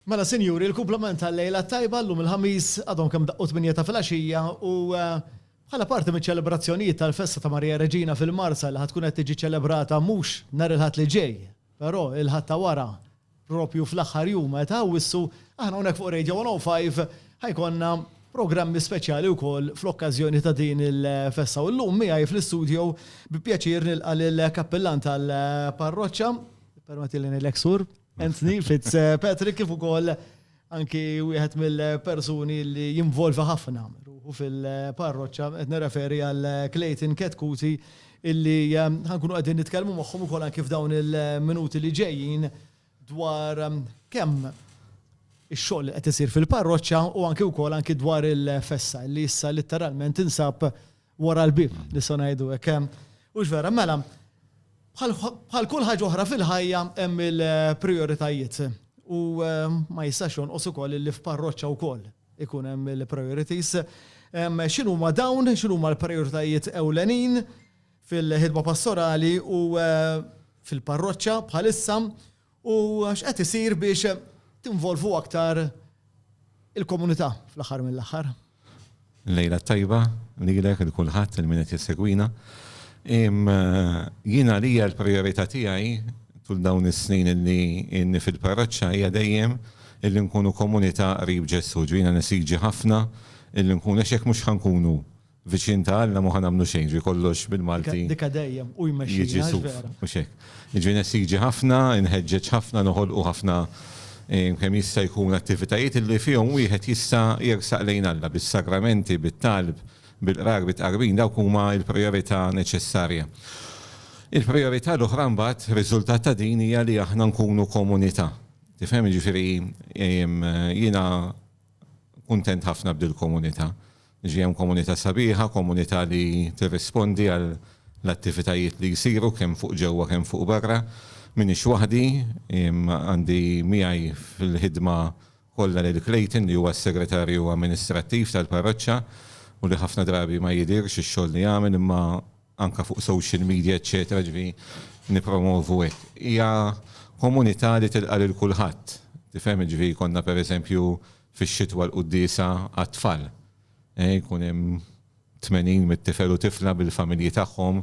Mela sinjuri, il-kumplament tal-lejla t-tajba llum il-Ħamis għadhom kemm daqqu tmienja ta' filgħaxija u bħala parti miċ-ċelebrazzjonijiet tal-festa ta' Marija Reġina fil-Marsa li ħa tkun qed tiġi ċelebrata mhux nhar il-Ħadd li ġej, però il-Ħadd ta' wara proprju fl-aħħar jum ta' Awwissu, aħna hawnhekk fuq Radio 105 ħa jkollna programmi speċjali wkoll fl-okkażjoni ta' din il-festa. U llum miegħi fl-istudio bi pjaċir nilqa' lill-Kappillan tal-Parroċċa, ippermettili ngħidlek Sur, Anthony Fitzpatrick kif ukoll anki wieħed mill-persuni li jinvolvi ħafna u fil-parroċċa qed nirreferi għal Clayton Ketkuti illi ehm, ħankunu qegħdin nitkellmu magħhom ukoll anki f'dawn il-minuti li ġejjin dwar ehm, kemm ix-xogħol qed isir fil-parroċċa u anki wkoll anki dwar il-fessa li issa litteralment insab wara l-bieb, nistgħu ngħidu hekk. Hux vera? Mela, bħal kull ħaġa oħra fil-ħajja hemm il-prijoritajiet. U ma jistax jonqos ukoll li f'parroċċa wkoll ikun hemm il-priorities. X'inhuma dawn, x'inhuma l-prijoritajiet ewlenin fil-ħidma pastorali u fil-parroċċa bħalissa U x'qed isir biex tinvolvu aktar il-komunità fl-aħħar mill-aħħar? Lejla t-tajba, lilek, lil kulħadd, lil min qed jissegwina. Jien għalija l-prijorità tiegħi tul dawn is-snin li inni fil-parroċċa hija dejjem illi nkunu komunità qrib Ġesù. Ġifieri jiena nesiġi ħafna illi nkunu għax jekk mhux ħa nkunu Viċin ta' Alla m'hu ħa nagħmlu xejn, ġifieri kollox bil-Malti. Dikkha dejjem, hu jmexxina, jiġi suf, mhux hekk? Jiġifieri nesiġi ħafna, inħeġġeġ ħafna, noħolqu ħafna kemm jista' jkun attivitajiet illi fihom wieħed jista' jersaq lejn Alla, bis-sagramenti, bit-talb, bil-qrar, bit-tqarbin, dawk huma l-prijorità neċessarja. Il-prijorità l-oħra mbagħad, riżultat ta' din hija li aħna nkunu komunità. Tifhem? Jiġifieri jiena kuntent ħafna b'dil-komunità. Ġie hemm komunità sabiħa, komunità li tirrispondi għall-attivitajiet li jsiru kemm fuq ġewwa kemm fuq barra. M'iniex waħdi, għandi miegħi fil-ħidma kollha lil Clayton li huwa s-Segretarju Amministrattiv tal-Parroċċa u li ħafna drabi ma jidhirx ix-xogħol li jagħmel imma anke fuq social media eċċetera, jiġifieri nippromovu hekk. Hija komunità li tilqa' lil kulħadd, tifhem, jiġifieri jkollna pereżempju fix-xitwa l-quddiesa għat-tfal. Jkun hemm tmenin mit-tifel u tifla bil-familji tagħhom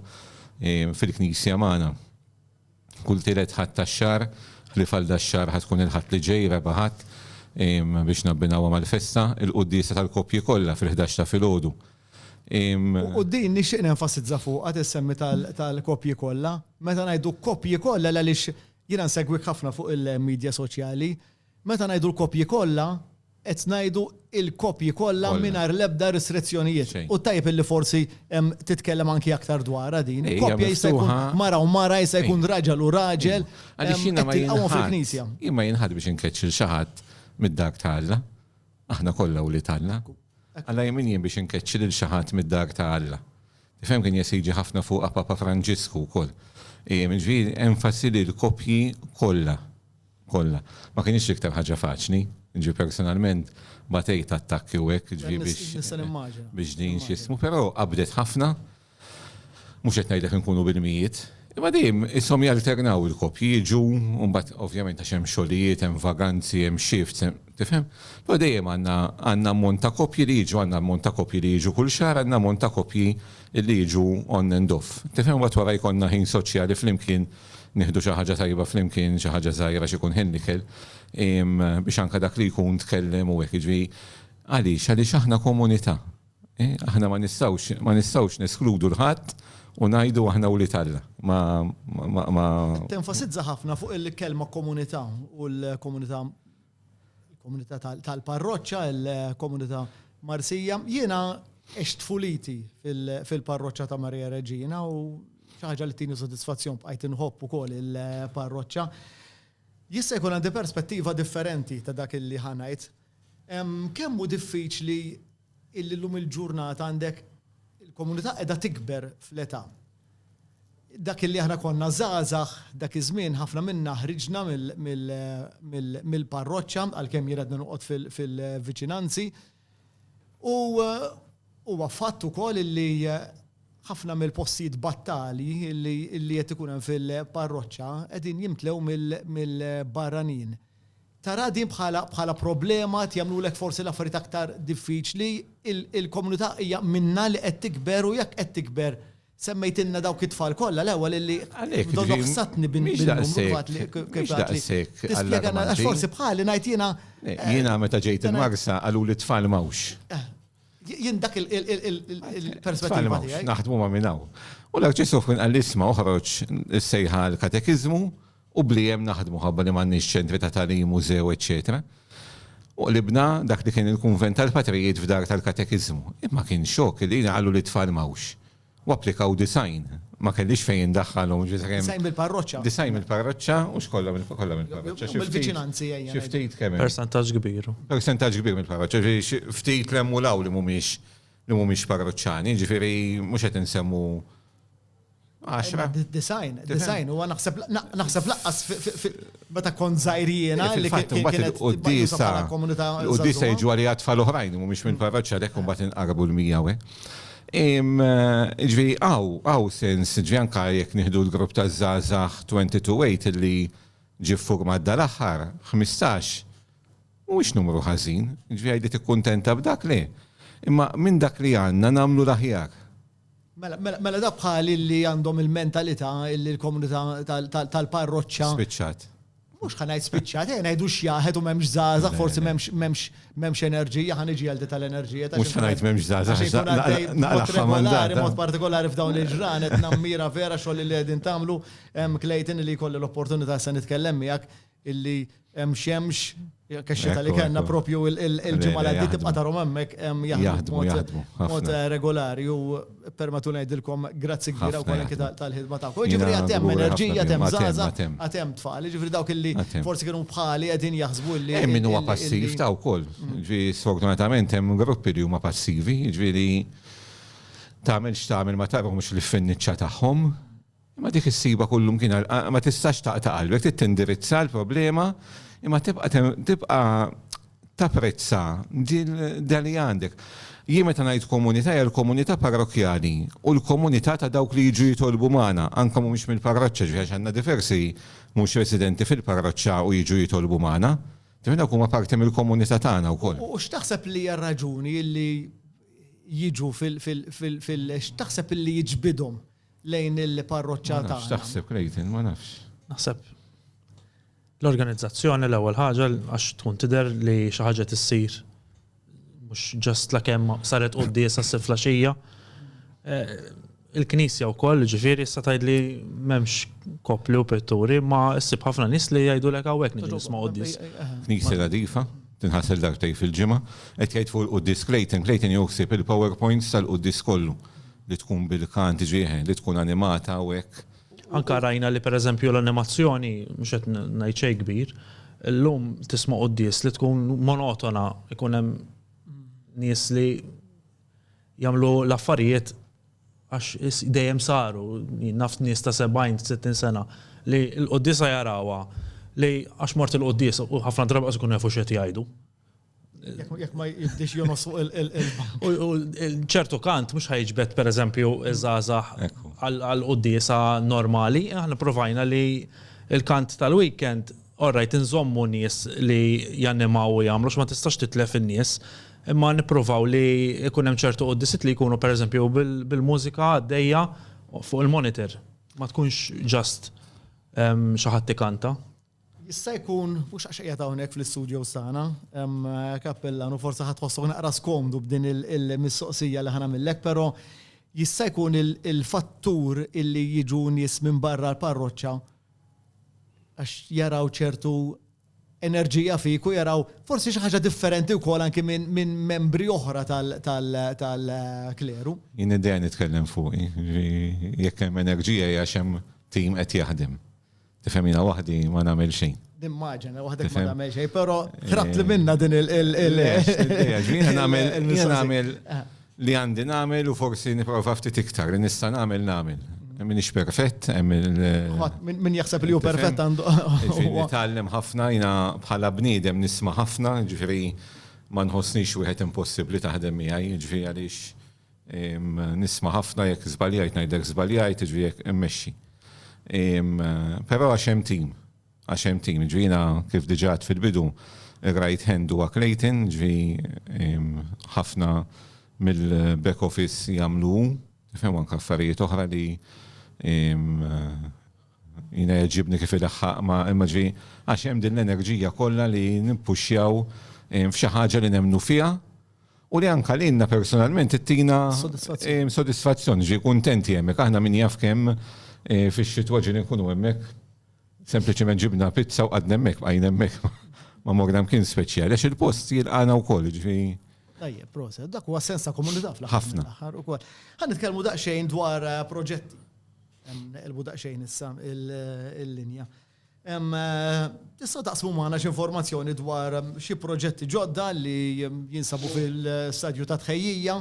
fil-knisja magħna. Kull tielet Ħadd tax-xahar, ħlief għal dax-xahar ħa tkun il-Ħadd li ġej, Raba' Ħadd, biex nabbinawha mal-festa, il-quddiesa tal-koppji kollha fil-ħdax ta' filgħodu. U din nixtieq nenfasizza fuqha tissemmi tal-koppji kollha. Meta ngħidu koppji kollha l għaliex jiena nsegwik ħafna fuq il-midja soċjali, Meta ngħidu l-koppji kollha, qed ngħidu l-koppji kollha mingħajr l-ebda restrizzjonijiet. U tajjeb illi forsi titkellem anki aktar dwarha din. Koppja jista' jkun mara u mara, jista' jkun raġel u raġel. Għaliex jiena ma jilħaqx fil-Knisja. Jien ma jilħaqx biex inkeċċ lil xi ħadd mid-dar ta' Alla. Aħna kollha wlied Alla. Alla jien min jien biex inkeċċi lil xi ħadd mid-dar ta' Alla. Tifhem kien jesiġi ħafna fuqha Papa Franġisku wkoll. Jiġifieri enfasi li l-koppji kollha kollha. Ma kinitx l-iktar ħaġa faċli, jiġifieri personalment batejt attakki u hekk, jiġifieri biex. Nista' nimmaġina. Biex din x'jismu, però qabdet ħafna. Mhux qed ngħidlek inkunu bil-mijiet, imma dejjem ishom jalternaw il-koppji, jiġu u mbagħad ovvjament għax hemm xogħlijiet, hemm vaganzi, hemm shifts, hemm. Tifhem? Però dejjem għandna għandna ammont ta' kopji li jiġu, għandna ammont ta' kopji li jiġu kull xahar, għandna ammont ta' kopji li jiġu on and off. Tifhem? Imbagħad wara jkollna ħin soċjali flimkien, nieħdu xi ħaġa tajba flimkien, xi ħaġa żgħira, xi jkun ħin l-ikel, biex anke dak li jkun tkellem u hekk. Jiġifieri għaliex? Għaliex aħna komunità. Aħna ma nistgħux ma nistgħux neskludu 'l ħadd u ngħidu aħna wlied Alla. Ma ma ma. Tenfasizza ħafna fuq il-kelma komunità u l-komunità il-komunità tal-parroċċa, il-komunità Marsija. Jiena ex tfuliti fil-parroċċa ta' Maria Reġina u ħaġa li tini soddisfazzjon bqajt inħobb ukoll il-parroċċa. Jista' jkun għandi perspettiva differenti ta' dak li ħanajt. Kemm hu diffiċli illum il-ġurnata għandek il-komunità qiegħda tikber fl-età. Dak illi aħna konna żgħażagħ dak iż-żmien ħafna minna ħriġna mill-parroċċa għalkemm jien għadni noqgħod fil-viċinanzi. U huwa fatt ukoll illi ħafna mill-postijiet battali illi qed ikun hemm fil-parroċċa qegħdin jimtlew mill-barranin. Tara din bħala bħala problema, qed jagħmlulek forsi l-affarijiet aktar diffiċli. Il il-komunità hija minnha li qed tikber u jekk qed tikber semmejtilna dawk it-tfal kollha l-ewwel illi donnha fissatni bin Mhix daqshekk Tispjegana għax forsi bħali ngħid jiena Jiena meta ġejt il-Marsa qaluli t-tfal m'hawnx. Jien dak il il il-perspettiva tiegħi. Naħdmu ma' minn hawn. U l-Arċisqof kien qalli isma' oħroġ is-sejħa għall-katekiżmu, u bli hemm naħdmu ħabba li m'għandniex ċentri ta' tagħlim, mużew, eċċetera U qlibna dak li kien il-kunvent tal-patrijiet f'dar tal-katekiżmu. Imma kien xokk li jiena qallu li t-tfal m'hawnx. U applikaw disgħin. Ma kellix fejn indaħħalhom. Disgħin mill-parroċċa. Disgħin mill-parroċċa u x'kollha kollha mill-parroċċa. Xi ftit. Xi ftit kemm. Persentaġġ kbir. Persentaġġ kbir mill-parroċċa. Ġifieri ftit li hemm u l-hawn li mhumiex li mhumiex parroċċani, ġifieri mhux qed insemmu Għaxra. Design, design, u naħseb naħseb laqqas meta kont zaħirjena li kienet il-qoddisa. Il-qoddisa jiġu għalli għatfall oħrajn, mu mux minn parroċċa dek un bat inqarbu l-mija we. Ġvi, għaw, għaw sens, ġvi anka jek nihdu l-grupp ta' Zazax 22 li ġi forma dal-axar, 15, mux numru ħazin, ġvi għajdi t-kontenta b'dak li. Imma minn dak li għanna namlu l-aħjar. Mela, mela, mela dawk bħali li għandhom il-mentalità li l-komunità tal-parroċċa. Spiċċat. Mhux ħa ngħid spiċċat, eh, ngħidu x'jaħed u m'hemmx żgħażagħ, forsi m'hemmx m'hemmx m'hemmx enerġija, ħa niġi għal tal-enerġija. Mhux ħa ngħid m'hemmx żgħażagħ. Naqlaq regolari, mod partikolari f'dawn il-ġranet, nammira vera xogħol li qegħdin tagħmlu, hemm Clayton li jkolli l-opportunità se nitkellem miegħek, illi hemm xemx kaxxa tal kellna propju il-ġimgħa li għaddi tibqa' tarhom hemmhekk hemm jaħdmu mod regolari u permatu ngħidilkom grazzi kbira wkoll anke tal-ħidma tagħkom. Ġifieri għad hemm enerġija, għad hemm żgħażagħ, għad hemm tfal, ġifieri dawk illi forsi kienu bħali qegħdin jaħsbu li. Hemm min huwa passiv ta' wkoll. Ġifieri sfortunatament hemm gruppi li huma passivi, ġifieri tagħmel x'tagħmel ma tagħmel mhux l-iffinniċċa tagħhom. Imma dik issibha kull imkien, ma tistax taqta' qalbek, trid tindirizza l-problema imma tibqa' tibqa' tapprezza din dan li għandek. Jien meta ngħid komunità hija l-komunità parrokkjali u l-komunità ta' dawk li jiġu jitolbu magħna, anke mhumiex mill-parroċċa, ġifieri għax għandna diversi mhux residenti fil-parroċċa u jiġu jitolbu magħna. Tifhem, dawk huma parti mill-komunità tagħna wkoll. U x'taħseb li hija r-raġuni li jiġu fil-, x'taħseb li jiġbidhom lejn il-parroċċa tagħna. X'taħseb Clayton, ma nafx. Naħseb l-organizzazzjoni l-ewwel ħaġa għax tkun tidher li xi ħaġa tissir mhux ġast la kemm saret quddies għas flaxija. Eh, Il-Knisja wkoll ġifieri issa tgħidli m'hemmx kopli u pitturi ma ssib ħafna nies li jgħidulek hawnhekk niġi nisma' quddies. Eh, eh, Knisja nadifa, tinħasel dartej fil-ġimgħa, qed jgħid fuq il-quddis Clayton, Clayton joħsib il-PowerPoints tal-quddis kollu li tkun bil-kant ġieħen, li tkun animata u hekk. Anke rajna li pereżempju l-animazzjoni, mhux qed ngħid xejn kbir, illum tisma' quddies li tkun monotona, ikun hemm nies li jagħmlu l-affarijiet għax dejjem saru, naf nies ta' 70, 60 sena li l-quddiesa jarawha li għax mort il-quddies u ħafna drabi qas ikunu jafu x'qed jgħidu. Jekk ma jiddix jonos fuq il-qilba. U ċertu kant mhux ħajġbed pereżempju iż-żgħażagħ għal quddiesa normali, aħna provajna li l-kant tal-weekend orrajt inżommu nies li jannimaw u jagħmlu għax ma tistax titlef in-nies, imma nipprovaw li jkun hemm ċertu quddiesiet li jkunu pereżempju bil-mużika għaddejja fuq il-monitor. Ma tkunx just xi ħadd ikanta. Jista' jkun, mhux għax qiegħed hawnhekk fl-istudios tagħna, Kappillan, u forsi ħa tħossok naqra skomdu b'din il-mistoqsija li ħa nagħmillek, però jista' jkun il-fattur illi jiġu nies minn barra l-parroċċa għax jaraw ċertu enerġija fik u jaraw forsi xi ħaġa differenti wkoll anki minn membri oħra tal-kleru. Jien id-dejja nitkellem fuqi, jekk hemm enerġija hija xem tim qed jaħdem. Tifhem jiena waħdi ma nagħmel xejn. Nimmaġina waħdek ma nagħmel xejn, però tratt li minna din il- Jiena nagħmel nagħmel ah. li għandi nagħmel u forsi nipprova ftit iktar li nista' nagħmel nagħmel. Minix perfett, Min jaħseb li hu perfett għandu. Nitgħallem ħafna, jina bħala bniedem nisma' ħafna, ġifieri ma nħossnix wieħed impossibbli taħdem miegħi, ġifieri għaliex Nisma' ħafna jekk żbaljajt ngħidlek żbaljajt, jiġifieri jekk immexxi. Però għax hemm tim, għax hemm tim, jiġifieri jiena kif diġà għedt fil-bidu, ir-right hand huwa Clayton, jiġifieri ħafna mill-back office jagħmlu hu, tifhem, u anke affarijiet oħra li jiena jgħeġġibni kif ilaħħaq ma' imma jiġifieri għax hemm din l-enerġija kollha li nippuxxjaw f'xi ħaġa li nemmnu fiha u li anke lilna personalment ittina sodisfazzjoni, ġi kuntenti hemmhekk. Aħna min jaf kemm fix-xitwa ġieli nkunu hemmhekk, sempliċement ġibna pizza u qgħadna hemmhekk, bqajna hemmhekk ma morna mkien speċjali għax il-post jilqagħna wkoll, ġifi. Tajjeb, proset. Dak huwa sens ta' komunità fl-aħħar mill-aħħar ukoll. Ħafna. Ħa nitkellmu daqsxejn dwar proġetti. Hemm neqilbu daqsxejn issa l-linja. Tistgħu taqsmu magħna xi informazzjoni dwar xi proġetti ġodda li jinsabu fil-stadju ta' tħejjija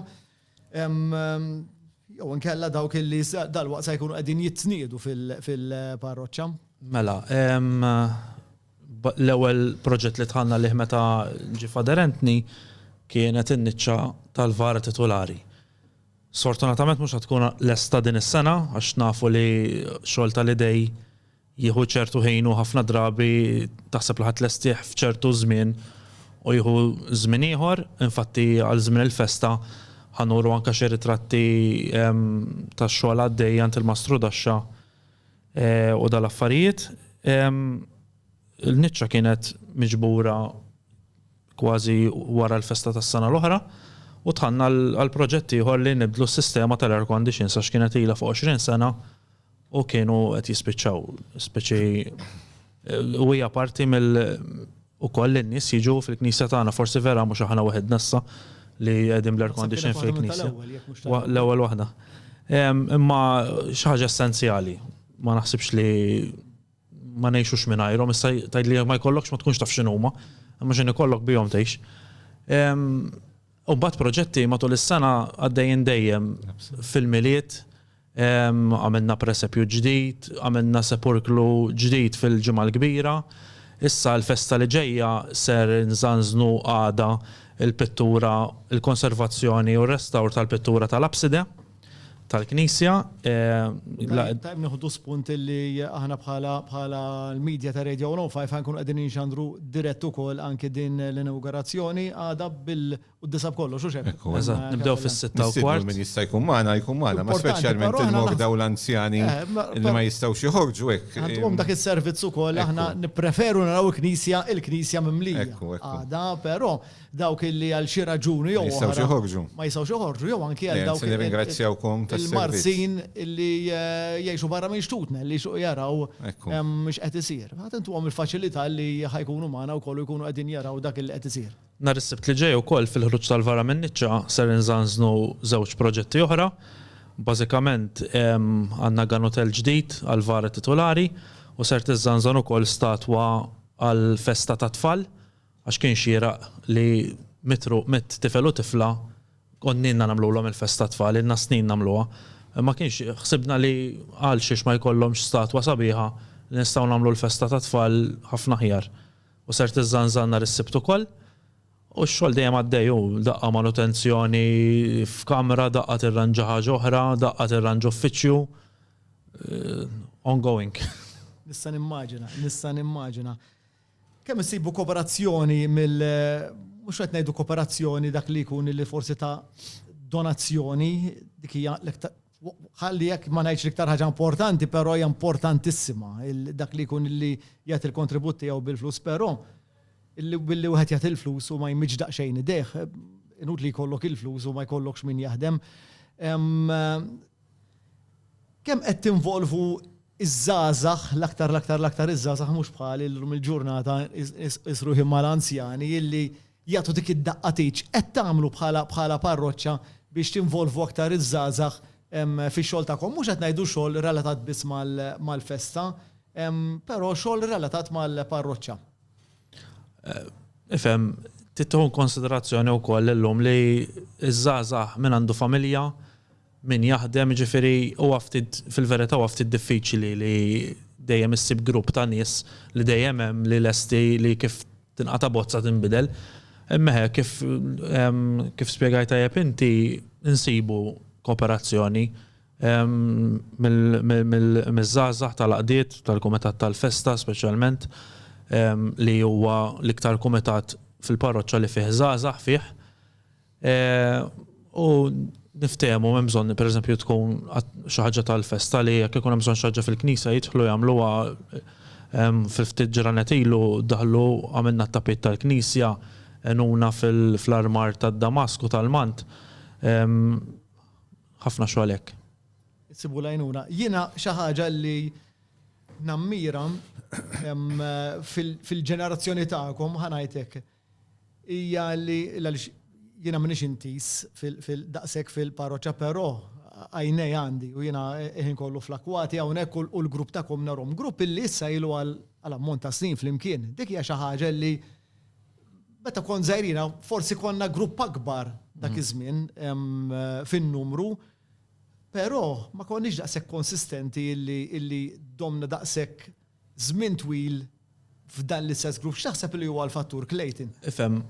jew inkella dawk li dalwaqt se jkunu qegħdin jitniedu fil-parroċċa? Mela, l-ewwel proġett li dħalna għalih meta ġie f'aderentni kienet in-niċċa tal-VAR titulari. Sfortunatament mhux se tkun lesta din is-sena għax nafu li x-xogħol tal-idejn Jieħu ċertu ħin u ħafna drabi taħseb li ħa tlestih f'ċertu żmien u jieħu żmien ieħor. Infatti għal żmien il-festa ħa nuru anke xi ritratti tax-xogħol għaddej għand il-Mastru Daxxa u dal-affarijiet. Il-niċċa kienet miġbura kważi wara l-festa tas-sena l-oħra u dħalna għal proġett ieħor li nibdlu s-sistema tal-air conditions għax kienet ilha fuq 20 sena u kienu qed jispiċċaw speċi u hija parti mill ukoll in-nies jiġu fil-knisja tagħna forsi vera mhux aħna waħed nassa li qegħdin bl-air condition fil-knisja. L-ewwel waħda. Imma xi ħaġa essenzjali. Ma naħsibx li ma ngħixux mingħajrhom, issa tgħidli jekk ma jkollokx ma tkunx taf x'inhuma, imma x'in ikollok bihom tgħix. U mbagħad proġetti matul is-sena għaddejjin dejjem fil-Milied, għamilna presepju ġdid, għamilna sepurklu ġdid fil-Ġimgħa l-Kbira. Issa l-festa li ġejja ser inżanżnu għada l-pittura, il-konservazzjoni u r-restawr tal-pittura tal-apside. tal-Knisja. Tajb nieħdu spunt li aħna bħala l-medja ta' Radio 105 ħankun qegħdin inxandru dirett ukoll anki din l-inawgurazzjoni għada bil-disa b'kollox, u xek. Nibdew fis-sitta u kwart. Min jista' jkun magħna jkun magħna, ma speċjalment il-morda u l-anzjani li ma jistgħux joħorġu hekk. Għandhom dak is-servizz ukoll aħna nippreferu naraw il-Knisja, il-Knisja mimlija. Għada, però dawk illi għal xi raġuni jew oħra. Ma jistgħux joħorġu. Ma jistgħux joħorġu jew anki għal dawk. Nirringrazzjawkom tas-servizz. Il-Marsin illi jgħixu barra minn xtutna li jsuq jaraw mhux qed isir. Ħadd intuhom il-faċilità li ħajkunu magħna wkoll u jkunu qegħdin jaraw dak li qed isir. Nhar is-Sibt li ġej ukoll fil-ħruġ tal-Vara min-Niċċa ser inżanżnu żewġ proġetti oħra. Bażikament għandna ganotell ġdid għall-Vara titulari u ser tiżżanżan ukoll statwa għall-festa tat-tfal Għax kien xieraq li mitt tifel u tifla konnilna nagħmlulhom il-festa tat-tfal, ilna snin nagħmluha. Ma kienx ħsibna li għalxiex ma jkollhomx statwa sabiħa li nistgħu nagħmlu l-festa tat-tfal ħafna aħjar. U ser tiżżanżan nhar is-Sibt ukoll. U x-xogħol dejjem għaddej hu, daqqa manutenzjoni f'kamra, daqqa tirranġa ħaġa oħra, daqqa tirranġa uffiċċju. Ongoing. Nista' nimmaġina, nista' nimmaġina. Kemm insibu koperazzjoni mill mhux qed ngħidu koperazzjoni dak li jkun li forsi ta' donazzjoni dik hija ħalli jekk ma ngħidx l-iktar ħaġa importanti, però hija importantissima dak li jkun li jagħti l-kontribut tiegħu bil-flus, però billi wieħed jagħti l-flus u ma jmiġġ daqsxejn idejh, inutli jkollok il-flus u ma jkollokx min jaħdem. Kemm qed tinvolvu ż-żgħażagħ, l-aktar l-aktar l-aktar iż-żgħażagħ mhux bħali llum il-ġurnata nqis ruħi mal-anzjani illi jagħtu dik id-daqqa tieġ. Qed tagħmlu bħala bħala parroċċa biex tinvolvu aktar iż-żgħażagħ fix-xogħol tagħkom? Mhux qed ngħidu xogħol relatat biss mal-festa, però xogħol relatat mal-parroċċa. Ifhem, trid tieħu inkonsiderazzjoni wkoll illum li ż-żgħażagħ min għandu familja, min jaħdem, jiġifieri huwa ftit, fil-verità huwa ftit diffiċli li dejjem issib grupp ta' nies li dejjem hemm li lesti li kif tinqata' bozza tinbidel. Imma hekk kif kif spjegajt tajjeb inti nsibu kooperazzjoni mill-żgħażagħ tal-għaqdiet, tal-kumitat tal-festa speċjalment li huwa l-iktar kumitat fil-parroċċa li fih żgħażagħ fih. U niftehmu hemm bżonn pereżempju tkun xi ħaġa tal-festa li jekk ikun hemm bżonn xi ħaġa fil-knisja jidħlu jagħmluha fi ftit ġranet ilu daħlu għamilna t-tapit tal-knisja, għenuna fl-armar tad-damask u tal-mant. Ħafna xogħol hekk. Issibu l-għajnuna. Jiena xi ħaġa li nammira fil-ġenerazzjoni tagħkom, ħa ngħid hekk, hija li għaliex jiena m'iniex intiż daqshekk fil-parroċċa però għajnej għandi u jiena l-ħin kollu fl-akkwati hawnhekk u l-grupp tagħkom narhom. Grupp illi issa ilu għal ammont ta' snin flimkien. Dik hija xi ħaġa li meta kont żgħir jiena forsi konna grupp akbar dak iż-żmien fin-numru però ma konniex daqshekk konsistenti illi domna daqshekk żmien twil f'dan l-istess grupp, x'taħseb li huwa l-fattur, Clayton? Ifhem,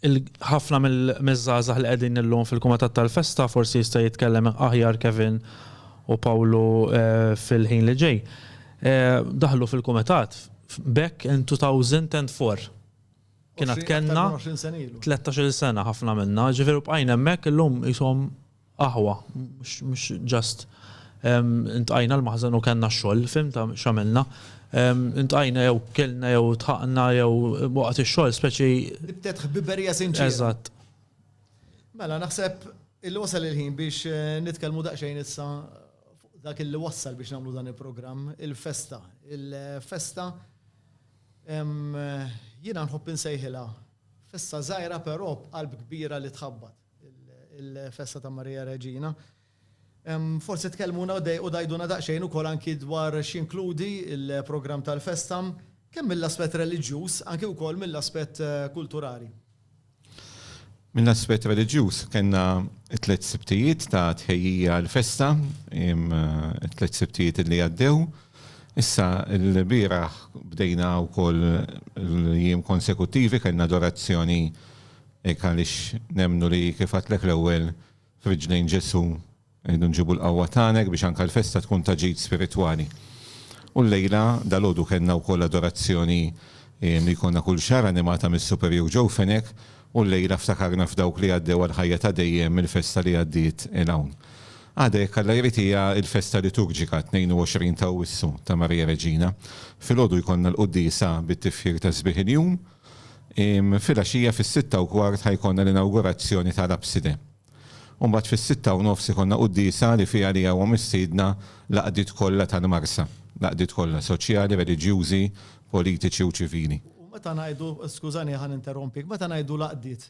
ħafna mill-żgħażagħ li qegħdin illum fil-Kumitat tal-Festa forsi jista' jitkellem aħjar Kevin u Pawlu fil-ħin li ġej, daħlu fil-Kumitat back in 2004. Kien għad kellna 13-il sena ħafna minna, ġifieri bqajna hemmhekk illum qishom aħwa mhux just intqajna l-maħżen u kellna x-xogħol, fimt x'għamilna? Intqajna jew kelna jew tħaqna jew waqt ix-xogħol speċi. Nibtet ħbiberija sinċiera. Eżatt. Mela naħseb illi wasal il-ħin biex eh, nitkellmu daqsxejn issa dak illi wassal biex nagħmlu dan il-programm, il-festa. Il-festa jiena nħobb insejħilha festa żgħira però b'qalb kbira li tħabbat. il-festa ta' Marija Reġina. Forsi tkellmuna u dgħiduna daqsxejn ukoll anki dwar x'jinkludi l-programm tal-festa, kemm mill-aspett reliġjuż anki wkoll mill-aspett kulturali. Mill-aspett reliġjuż kellna t-tliet Sibtijiet ta' tħejjija għall-festa, it-tliet Sibtijiet li għaddew. Issa l-bieraħ bdejna wkoll l-jiem konsekuttivi, kellna adorazzjoni Hekk għaliex nemmnu li, kif għedtlek l-ewwel, f'riġlejn Ġesù rridu nġibu l-qawwa tagħna hekk biex anke l-festa tkun ta' ġid spiritwali. U llejla, dalgħodu kellna wkoll adorazzjoni li jkollna kull xahar animata mis-Superjur Joe Fenech u llejla ftakarna f'dawk li għaddew għal ħajja ta' dejjem mill-festa li għaddiet 'il hawn. Għada jekk Alla jrid hija l-festa liturġika, 22 t'Awwissu, ta' Marija Reġina. Filgħodu jkollna l-quddiesa bit-tifħir ta' sbiħ il-jum. Filgħaxija fis-sitta u kwart ħa jkollna l-inawgurazzjoni tal-abside. U mbagħad fis-sitta u nofs ikollna quddiesa li fiha għaliha huwa mistiedna l-għaqdiet kollha tal-Marsa, l-għaqdiet kollha, soċjali, reliġjużi, politiċi u ċivili. U meta ngħidu, skużani ħa ninterrompik, meta ngħidu l-għaqdiet,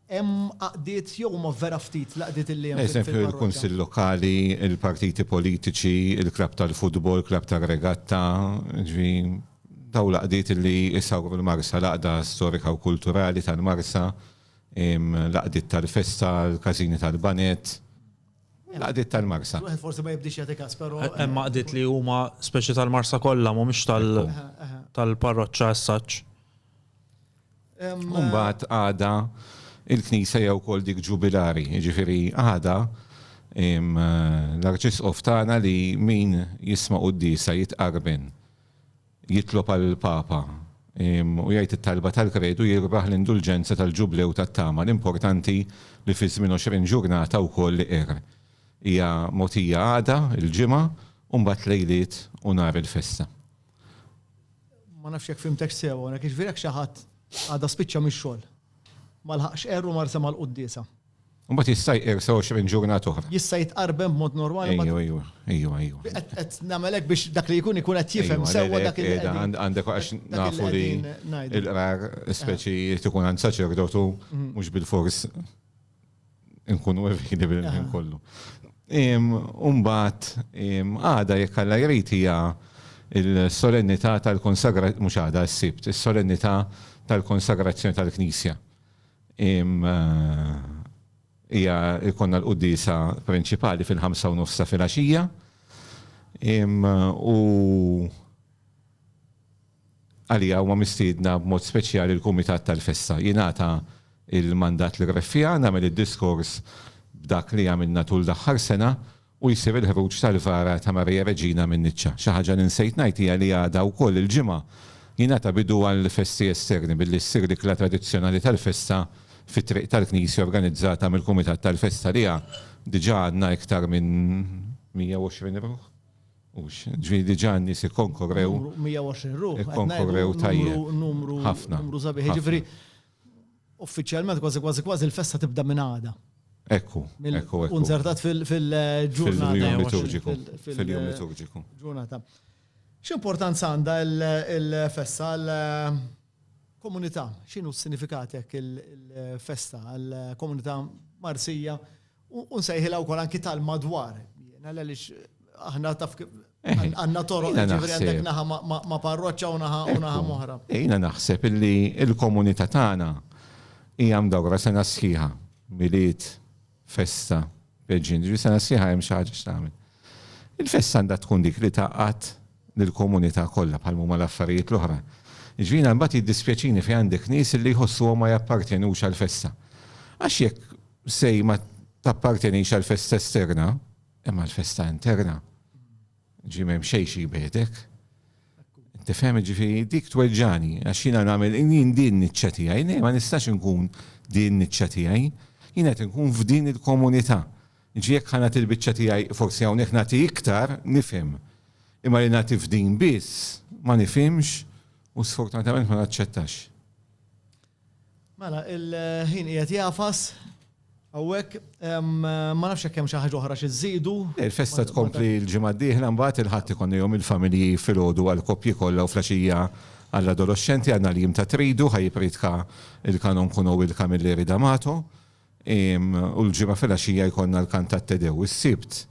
Hemm għaqdiet jew huma vera ftit l-għaqdiet li hemm fil-parroċċa? Eżempju, il-kunsill lokali, il-partiti politiċi, il-klabb tal-futbol, klabb tar-regatta, jiġifieri dawn l-għaqdiet li jsawru l-Marsa, l-għaqda storika u kulturali tal-Marsa, l-għaqdiet tal-festa, l-każini tal-baned, l-għaqdiet tal-Marsa. Wieħed forsi ma jibdiex jagħti każ, però. Hemm għaqdiet li huma speċi tal-Marsa kollha, mhumiex tal-parroċċa as such. Mbagħad għada il-Knisa jew kol dik ġubilari, jiġifieri għada l-arċisqof tagħna li min jisma' qudiesa jitqarben jitlob għal papa u jgħid it-talba tal-kredu jirbaħ l-indulġenza tal-ġublew tat-tama l-importanti li fi żmien 20 ġurnata wkoll li qer. Hija mogħtija għada il-ġimgħa u mbagħad lejliet u nhar il-festa. Ma nafx jekk fhimtekx sew hawnhekk, jiġifieri jekk xi ħadd għada spiċċa mix-xogħol, ma laħaqx qerr u mar sema' l-quddiesa. Imbagħad jista' jqirsa 20 ġurnata oħra. Jista' jitqarben b'mod normali. Ejju, ejju, ejju, ejju. Qed nagħmel hekk biex dak li jkun ikun qed jifhem sewwa dak li qed. Għandek għax nafu li l-qrar speċi jrid ikun għand saċerdotu mhux bilfors. nkunu evidi bil-ħin kollu. Umbat, għada jekk għalla jrid hija il-solennità tal-konsagrazzjoni, mhux għada s-sibt, is-solennità tal-konsagrazzjoni tal-Knisja. Hija jkollna l-qudiesa prinċipali fil-ħamsa u nofsa fil-għaxija. U Għaliha huma mistiedna b'mod speċjali l-Kumitat tal-Festa. Jingħata l-mandat li qrib fiha nagħmel id-diskors b'dak li għamilna tul l-aħħar sena u jsir il-ħruġ tal-vara ta' Maria Reġina min-niċċa. Xi ħaġa li nsejt ngħid hija li għada wkoll il-Ġimgħa jingħata bidu għall-festi esterni billi ssir l-ikla tradizzjonali tal-festa fi Triq tal-Knisja organizzata mill-Kumitat tal-Festa li diġà għandna iktar minn 120 ruħ. Hux, ġifieri diġà n-nies ikkonkorrew. Numru 120 ruħ. Ikkonkorrew tajjeb. Numru, ħafna. Numru sabiħ. Jiġifieri uffiċjalment kważi kważi kważi l-festa tibda minn għada. Ekku, ekku, ekku. Unzertat fil-ġurnata. Fil-jum liturġiku. Fil-jum liturġiku. Ġurnata. X'importanza għandha l-festa għall-komunità? X'inhu s-sinifikat hekk il-festa għall-komunità Marsija? U nsejħilha wkoll anki tal-madwar. Jiena għaliex aħna taf għandna toroq ġifieri għandek naħa ma' parroċċa u naħa u naħa moħra. Jiena naħseb illi l-komunità tagħna hija mdawra sena sħiħa, Milied, festa, peġġin, ġifieri sena sħiħa hemm xi ħaġa x'tagħmel. Il-festa għandha tkun dik li tgħaqqad lill-komunità kollha bħal huma l-affarijiet l-oħra. Ġifieri mbagħad jiddispjaċini fejn għandek nies li jħossuhom ma jappartjenux għall-festa. Għax jekk sej ma tappartenix għal festa esterna, imma għal festa interna. Ġi mem xej xi bedek. Tifhem ġifi dik tweġġani, għax jiena nagħmel jien din niċċa tiegħi, ne ma nistax inkun din niċċa tiegħi, jien qed inkun f'din il-komunità. Ġi jekk ħana il-biċċa tiegħi forsi hawnhekk nagħti iktar nifhem. Imma li nagħti f'din biss ma nifhimx u sfortunatament ma naċċettax. Mela, il-ħin qiegħed jagħfas hawnhekk. Ma nafx jekk hemm xi ħaġa oħra xi żżidu. Il-festa tkompli l-ġimgħa d-dieħla mbagħad il-Ħadd ikonna jum il-familji filgħodu għall-koppji kollha u flaxija għall-adoloxxenti għandna l-jiem ta' tridu ħa jippriedka l-Kanon Kuno Will Camilleri D'Amato u l-Ġimgħa filgħaxija jkollna l-kant tat-Te Dew. Is-Sibt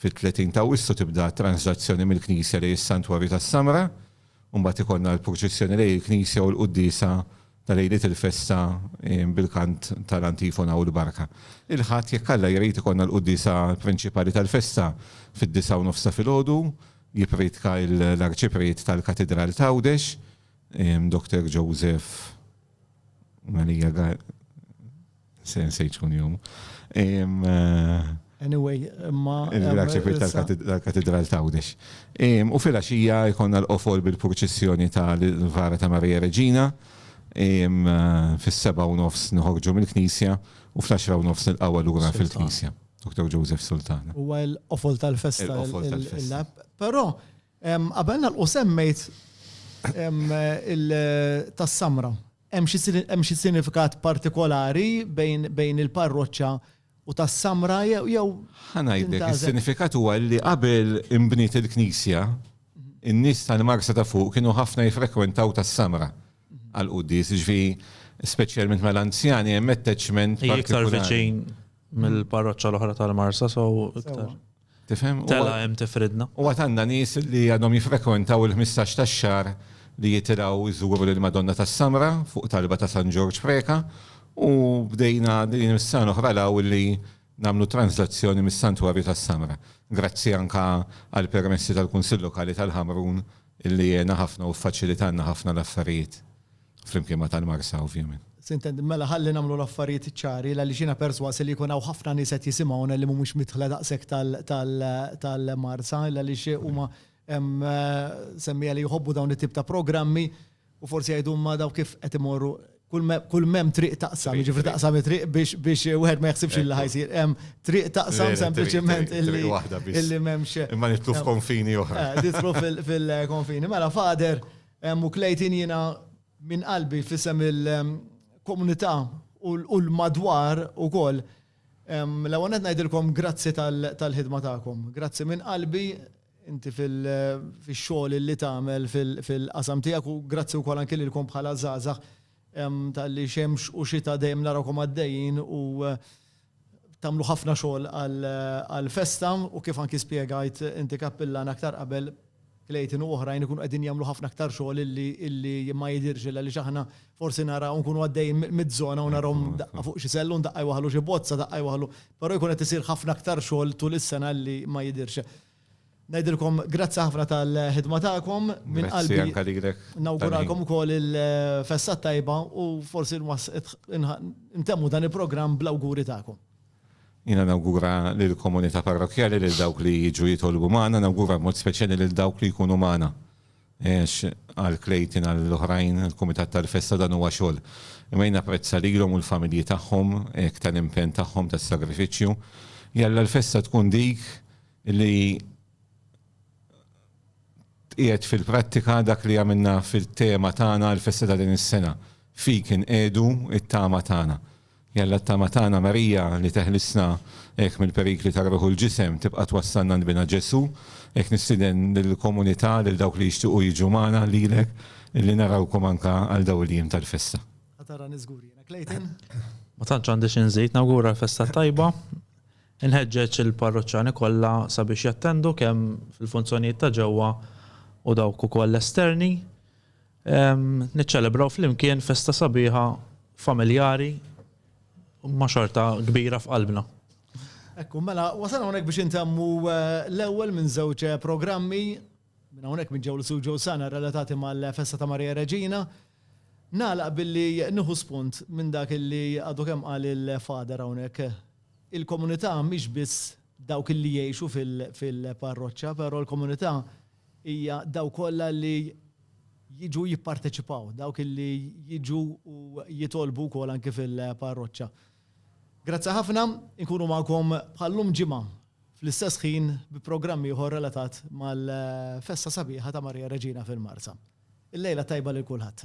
fit-30 t'Awwissu tibda t-tranżlazzjoni mill-knisja lejn is-Santwarju tas-Samra. u mbagħad ikollna l-purċissjoni lejn il-knisja u l-quddiesa ta' lejliet il-festa bil-kant tal-antifona u l-barka. Il-Ħadd jekk Alla jrid ikollna l-quddiesa prinċipali tal-festa fid-disgħa u nofs ta' filgħodu, jippriedka l-Arċipriet tal-Katidral t'Għawdex, Dr. Joseph Maria Garcia. Se se jkun jum. Anyway, imma. Grazie kwit tal-katedral ta' Għawdex. U fil-axija jkonna l-qofol bil-purċissjoni tal-Vara ta' Marija Reġina. Fis-seba u nofs nħorġu mill-knisja u fl-axra u nofs nil-qawa l-ura fil-knisja. Dr. Joseph Sultan. U għal qofol tal-festa. Qofol tal-festa. Pero, għabelna l-qosemmejt il-tassamra. Hemm xi sinifikat partikolari bejn il-parroċċa u tas-Samra jew. Ħa ngħidlek, is-sinifikat huwa li qabel inbniet il-knisja, in-nies tal-Marsa ta' Fuq kienu ħafna jiffrekwentaw tas-Samra għall-quddies, jiġifieri speċjalment mal-anzjani hemm attachment partikolari. Hi iktar viċin mill-parroċċa l-oħra tal-Marsa, so iktar. Tifhem? Tela' hemm tifridna. U għad għandna nies li għadhom jiffrekwentaw il-ħmistax tax-xahar li jitilgħu jżuru lill-Madonna tas-Samra fuq talba ta' San Ġorġ Preca u bdejna din is-sena l-oħra l-hawn illi nagħmlu tranżlazzjoni mis-Santwarju tas-Samra. Grazzi anke għall-permessi tal-Kunsill Lokali tal-Ħamrun illi għena ħafna u ffaċilitanna ħafna l-affarijiet. Flimkien ma' tal-Marsa ovvjament. Sintendi, mela ħalli nagħmlu l-affarijiet ċari għaliex jiena persważ li jkun hawn ħafna nies qed jisimgħuna li mhumiex midħla daqshekk tal-Marsa għaliex huma semmiegħa li jħobbu dawn it-tip ta' programmi u forsi jgħidu imma dawn kif qed imorru kull m'hemm triq taqsam, jiġifieri taqsam it-triq biex wieħed ma jaħsibx li ħajsir. Hemm triq taqsam sempliċement illi m'hemmx. Imma nidħlu f'konfini oħra. Nidħlu fil-konfini. Mela Father, Em u Clayton jiena minn qalbi f'isem il-komunità u l-madwar ukoll em l-ewwel nett ngħidilkom grazzi tal-ħidma tagħkom. Grazzi minn qalbi inti fil-xogħol illi tagħmel fil-qasam tiegħek u grazzi wkoll anki lilkom bħala żgħażagħ em talli xemx u xita dejjem narawkom għaddejjin u tagħmlu ħafna xogħol għall-festa u kif anki spjegajt inti Kappillan aktar qabel, Clayton u oħrajn ikunu qegħdin jagħmlu ħafna aktar xogħol illi ma jidhirx illa għaliex aħna forsi naraw nkunu għaddejjin miż-żona u narawhom daqqa fuq xi sellun, daqqa jwaħħlu xi bozza, daqqa jwaħħlu, però jkun qed isir ħafna aktar xogħol tul is-sena illi ma jidhirx. Ngħidilkom grazzi ħafna tal-ħidma tagħkom minn qalbi. Grazzi anke lilek. Nawguralkom ukoll il-festa t-tajba u forsi ntemmu dan il-programm bl-awguri tagħkom. Jiena nawgura lill-komunità parrokkjali lil dawk li jiġu jitolbu magħna, nawgura b'mod speċjali lil dawk li jkunu magħna. Għax għal Clayton għal oħrajn il-kumitat tal-festa dan huwa xogħol. Imma jien napprezza lilhom u l-familji tagħhom hekk tal-impenn tagħhom tas-sagrifiċċju. Jalla l-festa tkun dik li tqiegħed fil-prattika dak li għamilna fit-tema tagħna għall-festa ta' din is-sena, Fik inqiegħdu t-tama tagħna. Jalla t-tama tagħna Marija li teħlisna hekk mill-perikli tar-ruħ u l-ġisem tibqa' twassalna għand Binha Ġesù. Hekk nistieden lill-komunità, lil dawk li jixtiequ jiġu magħna, lilek, li narawkom anke għal dawn il-jiem tal-festa. Ħa tarani żgur jiena. Clayton? Ma tantx għandi xi nżid. Nawgura l-festa t-tajba. Inħeġġeġ il-parroċċani kollha sabiex jattendu kemm fil-funzjonijiet ta' ġewwa u dawk ukoll esterni. Niċċelebraw flimkien festa sabiħa familjari imma xorta kbira f'qalbna. Ekku, mela wasalna hawnhekk biex intemmu l-ewwel minn żewġ programmi. Minn hawnhekk minn ġew l-Su Joe Sana relatati mal-festa ta' Marija Reġina. Nagħlaq billi nieħu spunt minn dak li għadu kemm qal il-Father hawnhekk. Il-komunità mhix biss dawk illi jgħixu fil-parroċċa, però l-komunità hija dawk kollha li jiġu jipparteċipaw, dawk illi jiġu u jitolbu wkoll anki fil-parroċċa. Grazzi ħafna, inkunu magħkom bħal llum ġimgħa fl-istess ħin bi programm ieħor relatat mal-festa sabiħa ta' Marija Reġina fil-Marsa. Il-lejla tajba lil kulħadd.